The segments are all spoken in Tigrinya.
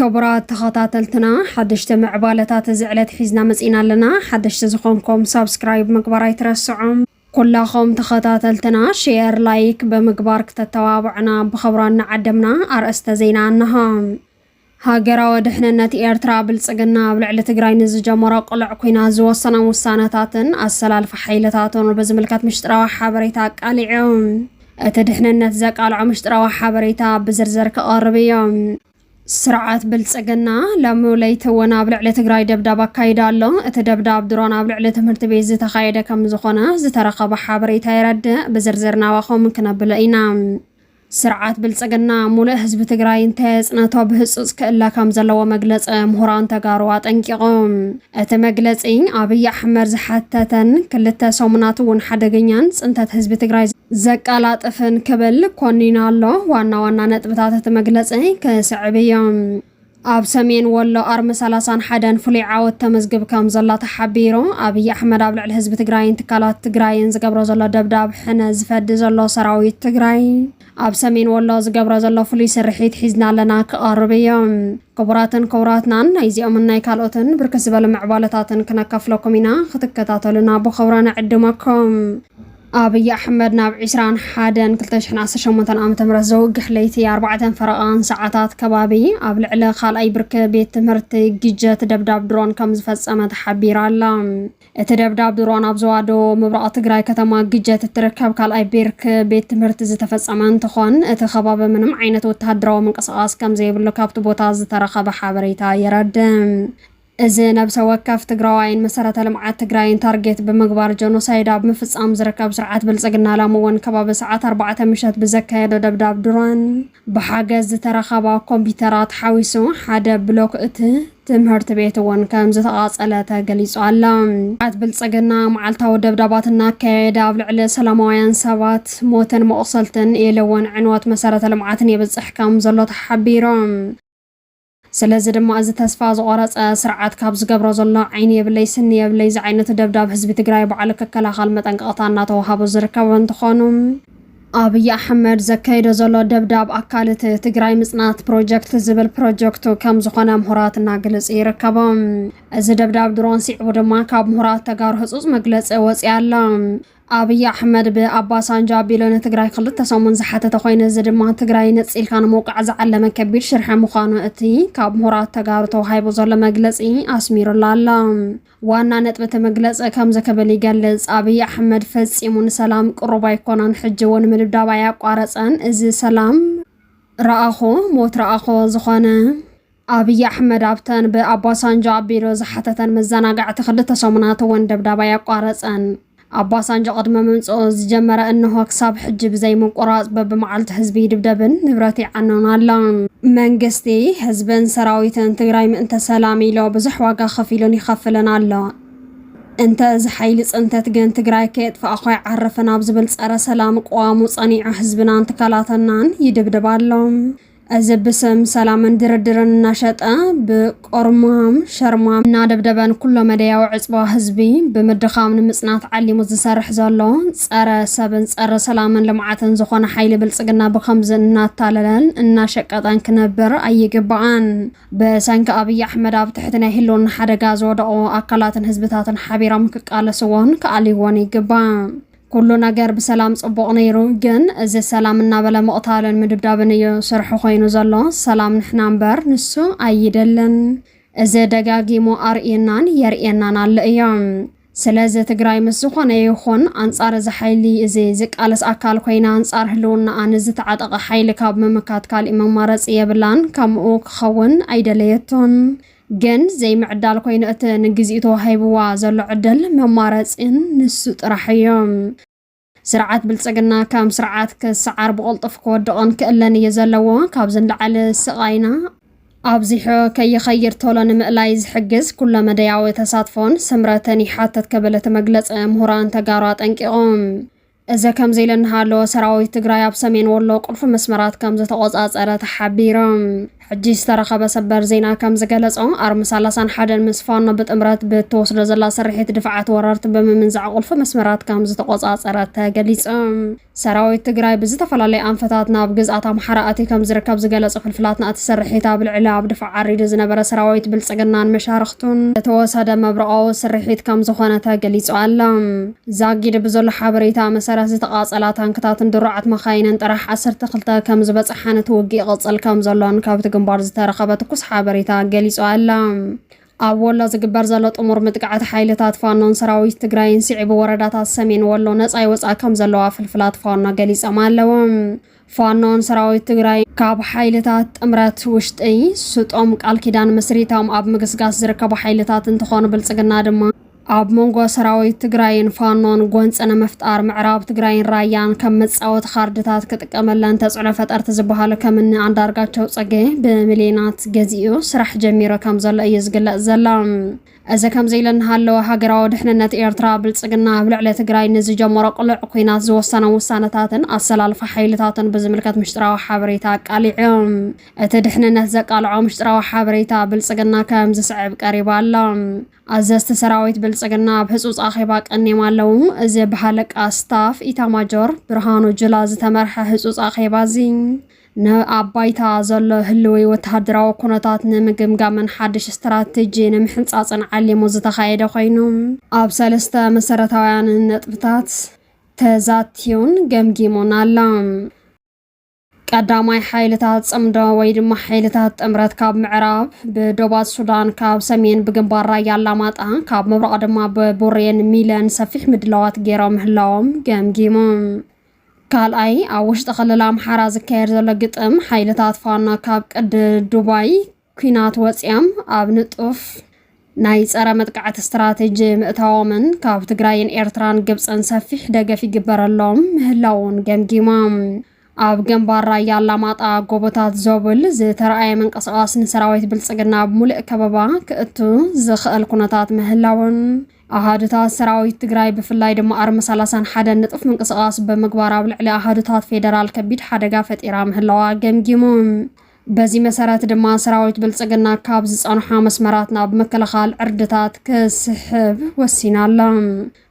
ክቡራት ተኸታተልትና ሓደሽቲ ምዕባለታት እዚ ዕለት ሒዝና መፂና ኣለና ሓደሽቲ ዝኾንኩም ሳብስክራይብ ምግባር ኣይትረስዑም ኩላኹም ተኸታተልትና ሼር ላይክ ብምግባር ክተተባብዑና ብኸብራ እናዓደምና ኣርእስተ ዜና እነሆ ሃገራዊ ድሕንነት ኤርትራ ብልጽግና ኣብ ልዕሊ ትግራይ ንዝጀመሮ ቅሉዕ ኲናት ዝወሰኖም ውሳነታትን ኣሰላልፋ ሓይልታቱን ብዝምልከት ምሽጥራዊ ሓበሬታ ኣቃሊዑ እቲ ድሕንነት ዘቃልዖ ምሽጥራዊ ሓበሬታ ብዝርዝር ክቐርብ እዮ። ስርዓት ብልጽግና ሎሚ ለይቲ እውን ኣብ ልዕሊ ትግራይ ደብዳብ ኣካይዱ ኣሎ። እቲ ደብዳብ ድሮን ኣብ ልዕሊ ትምህርቲ ቤት ዝተኻየደ ከም ዝኾነ ዝተረኸበ ሓበሬታ የረድእ። ብዝርዝር ናባኹም ክነብሎ ኢና። ስርዓት ብልፅግና ሙሉእ ህዝቢ ትግራይ እንተየፅነቶ ብህፁፅ ክእለ ከም ዘለዎ መግለፂ ምሁራን ተጋሩ ኣጠንቂቖም። እቲ መግለፂ ኣብይ ኣሕመድ ዝሓተተን ክልተ ሰሙናት እውን ሓደገኛን ፅንተት ህዝቢ ትግራይ ዘቀላጥፍን ክብል ኮኒኑ ኣሎ። ዋና ዋና ነጥብታት እቲ መግለፂ ክስዕብ እዮም። ኣብ ሰሜን ወሎ ኣርሚ ሰላሳን ሓደን ፍሉይ ዓወት ተመዝግብ ከም ዘላ ተሓቢሩ። ኣብይ ኣሕመድ ኣብ ልዕሊ ህዝቢ ትግራይን ትካላት ትግራይን ዝገብሮ ዘሎ ደብዳብ ሕነ ዝፈዲ ዘሎ ሰራዊት ትግራይ ኣብ ሰሜን ወሎ ዝገብሮ ዘሎ ፍሉይ ስርሒት ሒዝና ኣለና ክቐርብ እዮ። ክቡራትን ክቡራትናን ናይዚኦምን ናይ ካልኦትን ብርክት ዝበሉ ምዕባለታትን ክነካፍለኩም ኢና። ክትከታተሉና ብኽብሮ ንዕድመኩም። ኣብይ ኣሕመድ ናብ ዕስራን ሓደን ክልተ ሽሕን ዓሰርተ ሸሞንተን ዓመተ ምህረት ዘውግሕ ለይቲ ኣርባዕተን ፈረቓን ሰዓታት ከባቢ ኣብ ልዕሊ ካልኣይ ብርኪ ቤት ትምህርቲ ግጀት ደብዳብ ድሮን ከም ዝፈጸመ ተሓቢራ ኣላ። እቲ ደብዳብ ድሮን ኣብ ዞባ ደቡብ ምብራቕ ትግራይ ከተማ ግጀት እትርከብ ካልኣይ ብርኪ ቤት ትምህርቲ ዝተፈጸመ እንትኾን እቲ ከባቢ ምንም ዓይነት ወተሃደራዊ ምንቅስቓስ ከም ዘይብሉ ካብቲ ቦታ ዝተረኸበ ሓበሬታ የረድእ። እዚ ነብሰ ወከፍ ትግራዋይን መሰረተ ልምዓት ትግራይን ታርጌት ብምግባር ጀኖሳይድ ኣብ ምፍፃም ዝርከብ ስርዓት ብልፅግና ላሚ እውን ከባቢ ሰዓት ኣርባዕተ ምሸት ብዘካየዶ ደብዳብ ድሮን ብሓገዝ ዝተረኸባ ኮምፒተራት ሓዊሱ ሓደ ብሎክ እቲ ትምህርት ቤት እውን ከም ዝተቓፀለ ተገሊፁ ኣሎ። ስርዓት ብልፅግና መዓልታዊ ደብዳባት እናካየደ ኣብ ልዕሊ ሰላማውያን ሰባት ሞትን መቑሰልትን ኢሉ እውን ዕንወት መሰረተ ልምዓትን የብፅሕ ከም ዘሎ ተሓቢሮም። ስለዚ ድማ እዚ ተስፋ ዝቖረጸ ስርዓት ካብ ዝገብሮ ዘሎ ዓይኒ የብለይ ስኒ የብለይ ዝዓይነቱ ደብዳብ ህዝቢ ትግራይ ባዕሉ ክከላኸል መጠንቀቕታ እናተወሃቦ ዝርከብ እንትኾኑ፣ ኣብይ ኣሕመድ ዘካይዶ ዘሎ ደብዳብ ኣካል እቲ ትግራይ ምፅናት ፕሮጀክት ዝብል ፕሮጀክቱ ከም ዝኾነ ምሁራት እናግልፅ ይርከቡ። እዚ ደብዳብ ድሮን ሲዕቡ ድማ ካብ ምሁራት ተጋሩ ህፁፅ መግለፂ ወፂ ኣሎ። ኣብይ ኣሕመድ ብኣባሳንጃ ኣቢሉ ንትግራይ ክልተ ሰሙን ዝሓተተ ኮይኑ እዚ ድማ ትግራይ ነፂልካ ንምውቃዕ ዝዓለመ ከቢድ ሽርሒ ምዃኑ እቲ ካብ ምሁራት ተጋሩ ተዋሂቡ ዘሎ መግለፂ ኣስሚሩላ ኣሎ። ዋና ነጥቢ እቲ መግለፂ ከምዚ ክብል ይገልፅ። ኣብይ ኣሕመድ ፈፂሙ ንሰላም ቅሩብ ኣይኮነን፣ ሕጂ እውን ምድብዳብ ኣያቋረፀን፣ እዚ ሰላም ረኣኾ ሞት ረኣኾ ዝኾነ ኣብይ ኣሕመድ ኣብተን ብኣባሳንጆ ኣቢሉ ዝሓተተን መዘናግዕቲ ክልተ ሰሙናት እውን ደብዳብ ኣየቋረጸን። ኣባሳንጆ ቅድሚ ምምጽኡ ዝጀመረ እንሆ ክሳብ ሕጂ ብዘይምቁራጽ በብመዓልቱ ህዝቢ ይድብደብን ንብረት ይዓኖን ኣሎ። መንግስቲ፣ ህዝብን ሰራዊትን ትግራይ ምእንተ ሰላም ኢሎ ብዙሕ ዋጋ ከፊሉን ይኸፍልን ኣሎ። እንተ እዚ ሓይሊ ጽንተት ግን ትግራይ ከየጥፋእኹ ኣይዓርፍን ኣብ ዝብል ጸረ ሰላም ቅዋሙ ጸኒዑ ህዝብናን ትካላትናን ይድብድብ ኣሎ። እዚ ብስም ሰላምን ድርድርን እናሸጠ ብቆርማም ሸርማም እናደብደበን ኩሎ መደያዊ ዕፅዋ ህዝቢ ብምድኻም ንምፅናት ዓሊሙ ዝሰርሕ ዘሎ ፀረ ሰብን ፀረ ሰላምን ልምዓትን ዝኾነ ሓይሊ ብልፅግና ብከምዚ እናታለለን እናሸቀጠን ክነብር ኣይግባኣን። ብሰንኪ ኣብይ ኣሕመድ ኣብ ትሕቲ ናይ ህልውና ሓደጋ ዝወደቑ ኣካላትን ህዝብታትን ሓቢሮም ክቃለስዎን ክኣልይዎን ይግባእ። ኩሉ ነገር ብሰላም ጽቡቕ ነይሩ ግን እዚ ሰላም እናበለ ምቕታልን ምድብዳብን እዩ ስርሑ ኮይኑ ዘሎ ሰላም ንሕና እምበር ንሱ ኣይደልን እዚ ደጋጊሙ ኣርእዩናን የርእየናን ኣሎ እዮ ስለዚ ትግራይ ምስ ዝኾነ ይኹን ኣንጻር እዚ ሓይሊ እዚ ዝቃለስ ኣካል ኮይና ኣንጻር ህልውናኣ ንዝተዓጠቐ ሓይሊ ካብ ምምካት ካሊእ መማረፂ የብላን ከምኡ ክኸውን ኣይደለየቶን ግን ዘይምዕዳል ኮይኑ እቲ ንግዚኡ ተዋሂብዋ ዘሎ ዕድል መማረፂን ንሱ ጥራሕ እዩ። ስርዓት ብልፅግና ከም ስርዓት ክሰዓር ብቕልጡፍ ክወድቕን ክእለን እዩ ዘለዎ። ካብዚ ንላዕሊ ስቓይና ኣብዚሑ ከይኸይድ ቶሎ ንምእላይ ዝሕግዝ ኩለ መደያዊ ተሳትፎን ስምረትን ይሓትት ክብል እቲ መግለፂ ምሁራን ተጋሩ ኣጠንቂቑ። እዚ ከምዚ ኢሉ እናሃለወ ሰራዊት ትግራይ ኣብ ሰሜን ወሎ ቁልፊ መስመራት ከም ዝተቖፃፀረ ተሓቢሩ። ሕጂ ዝተረኸበ ሰበር ዜና ከም ዝገለፆ ኣርሚ ሰላሳን ሓደን ምስ ፋኖ ብጥምረት ብትወስዶ ዘላ ስርሒት ድፍዓት ወረርቲ ብምምንዛዕ ቁልፊ መስመራት ከም ዝተቖፃፀረ ተገሊፁ። ሰራዊት ትግራይ ብዝተፈላለየ ኣንፈታት ናብ ግዝኣት ኣምሓራ ኣትዩ ከም ዝርከብ ዝገለፁ ፍልፍላትና እቲ ስርሒት ኣብ ልዕሊ ኣብ ድፋዕ ዓሪዱ ዝነበረ ሰራዊት ብልፅግናን መሻርኽቱን ዝተወሰደ መብረቓዊ ስርሒት ከም ዝኾነ ተገሊፁ ኣሎ። ዛጊድ ብዘሎ ሓበሬታ መሰረት ዝተቓፀላ ታንክታትን ድሩዓት መኻይንን ጥራሕ ዓሰርተ ክልተ ከምዝበፀሓን እቲ ውግእ ይቕፅል ከምዘሎን ካብቲ ግንባር ዝተረኸበ ትኩስ ሓበሬታ ገሊፁ ኣላ። ኣብ ወሎ ዝግበር ዘሎ ጥሙር ምጥቃዕት ሓይልታት ፋኖን ሰራዊት ትግራይን ስዒቡ ወረዳታት ሰሜን ወሎ ነፃ ይወፅኣ ከምዘለዋ ፍልፍላት ፋኖ ገሊፆም ኣለው። ፋኖን ሰራዊት ትግራይን ካብ ሓይልታት ጥምረት ውሽጢ ስጦም ቃል ኪዳን መስሪቶም ኣብ ምግስጋስ ዝርከቡ ሓይልታት እንትኾኑ ብልፅግና ድማ ኣብ መንጎ ሰራዊት ትግራይን ፋኖን ጎንፂ ንምፍጣር ምዕራብ ትግራይን ራያን ከም መፃወቲ ካርድታት ክጥቀመለን ተፅዕኖ ፈጠርቲ ዝበሃሉ ከምኒ ኣንዳርጋቸው ፅጌ ብሚሊዮናት ገዚኡ ስራሕ ጀሚሩ ከምዘሎ እዩ ዝግለፅ ዘሎ። እዚ ከምዚ ኢሉ እናሃለወ ሃገራዊ ድሕንነት ኤርትራ፣ ብልጽግና ኣብ ልዕሊ ትግራይ ንዝጀመሮ ቅሉዕ ኲናት ዝወሰኖም ውሳነታትን ኣሰላልፋ ሓይልታትን ብዝምልከት ምሽጥራዊ ሓበሬታ ኣቃሊዑ። እቲ ድሕንነት ዘቃልዖ ምሽጥራዊ ሓበሬታ ብልጽግና ከም ዝስዕብ ቀሪቡ ኣሎ። ኣዘዝቲ ሰራዊት ብልጽግና ኣብ ህጹጽ ኣኼባ ቀንዮም ኣለዉ። እዚ ብሃለቃ ስታፍ ኢታማጆር ብርሃኑ ጁላ ዝተመርሐ ህጹጽ ኣኼባ እዚ ንኣብ ባይታ ዘሎ ህልዊ ወተሃደራዊ ኩነታት ንምግምጋምን ሓድሽ ስትራቴጂ ንምሕንጻጽን ዓሊሙ ዝተኻየደ ኮይኑ፣ ኣብ ሰለስተ መሰረታውያን ነጥብታት ተዛትዩን ገምጊሙን ኣሎ። ቀዳማይ፣ ሓይልታት ጽምዶ ወይ ድማ ሓይልታት ጥምረት ካብ ምዕራብ ብዶባት ሱዳን፣ ካብ ሰሜን ብግንባር ራያ ኣላማጣ፣ ካብ ምብራቕ ድማ ብቡሬን ሚለን ሰፊሕ ምድላዋት ገይሮም ምህላዎም ገምጊሙ። ካልኣይ ኣብ ውሽጢ ክልል ኣምሓራ ዝካየድ ዘሎ ግጥም ሓይልታት ፋኖ ካብ ቅዲ ዱባይ ኩናት ወፂያም ኣብ ንጡፍ ናይ ጸረ መጥቃዕቲ ስትራቴጂ ምእታዎምን ካብ ትግራይን ኤርትራን ግብፅን ሰፊሕ ደገፍ ይግበረሎም ምህላውን ገምጊሞም። ኣብ ግንባር ራያ ኣላማጣ ጎቦታት ዞብል ዝተረኣየ ምንቅስቓስ ንሰራዊት ብልፅግና ኣብ ሙሉእ ከበባ ክእቱ ዝኽእል ኩነታት ምህላውን ኣሃዱታት ሰራዊት ትግራይ ብፍላይ ድማ ኣርሚ ሰላሳን ሓደን ንጡፍ ምንቅስቓስ ብምግባር ኣብ ልዕሊ ኣሃዱታት ፌደራል ከቢድ ሓደጋ ፈጢራ ምህላዋ ገምጊሙ። በዚ መሰረት ድማ ሰራዊት ብልፅግና ካብ ዝፀንሖ መስመራት ናብ ምክልኻል ዕርድታት ክስሕብ ወሲና ኣላ።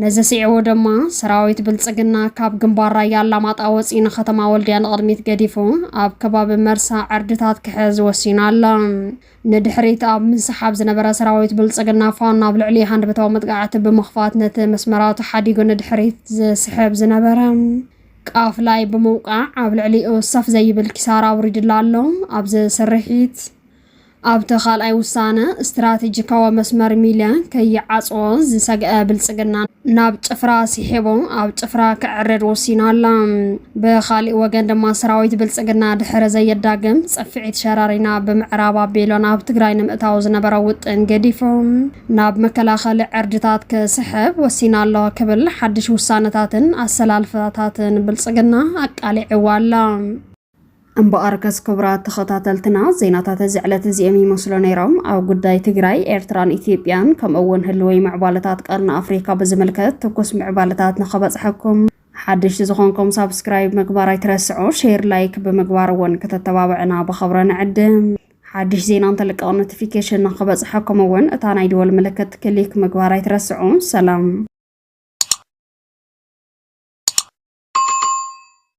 ነዚ ስዒቡ ድማ ሰራዊት ብልፅግና ካብ ግንባር ራያ ኣላማጣ ወፂኡ ንከተማ ወልድያ ንቕድሚት ገዲፉ ኣብ ከባቢ መርሳ ዕርድታት ክሕዝ ወሲኑ ኣሎ። ንድሕሪት ኣብ ምንስሓብ ዝነበረ ሰራዊት ብልፅግና ፋኖ ኣብ ልዕሊ ሃንደበታዊ መጥቃዕቲ ብምኽፋት ነቲ መስመራቱ ሓዲጉ ንድሕሪት ዝስሕብ ዝነበረ ቃፍላይ ብምውቃዕ ኣብ ልዕሊኡ ሰፍ ዘይብል ኪሳራ ኣውሪድላ ኣሎ። ኣብዚ ስርሒት ኣብቲ ካልኣይ ውሳነ ስትራቴጂካዊ መስመር ሚልያ ከይዓፅዎ ዝሰግአ ብልፅግና ናብ ጭፍራ ስሒቡ ኣብ ጭፍራ ክዕርድ ወሲኑ ኣሎ። ብኻሊእ ወገን ድማ ሰራዊት ብልፅግና ድሕሪ ዘየዳግም ፅፍዒት ሸረሪና ብምዕራብ ኣቢሎ ናብ ትግራይ ንምእታው ዝነበረ ውጥን ገዲፉ ናብ መከላኸሊ ዕርድታት ክስሕብ ወሲና ኣሎ ክብል ሓድሽ ውሳነታትን ኣሰላልፋታትን ብልፅግና ኣቃሊዕዋ ኣሎ። እምበኣርከስ ክቡራት ተኸታተልትና ዜናታት እዚ ዕለት እዚኦም ይመስሉ ነይሮም። ኣብ ጉዳይ ትግራይ፣ ኤርትራን ኢትዮጵያን ከምኡ እውን ህልዊ ምዕባለታት ቀርኒ ኣፍሪካ ብዝምልከት ትኩስ ምዕባለታት ንኸበፅሐኩም ሓደሽቲ ዝኾንኩም ሳብስክራይብ ምግባር ኣይትረስዑ፣ ሼር ላይክ ብምግባር እውን ክተተባብዕና ብኸብረ ንዕድም። ሓድሽ ዜና እንተልቀቕ ኖቲፊኬሽን ንክበፅሐኩም እውን እታ ናይ ደወል ምልክት ክሊክ ምግባር ኣይትረስዑ። ሰላም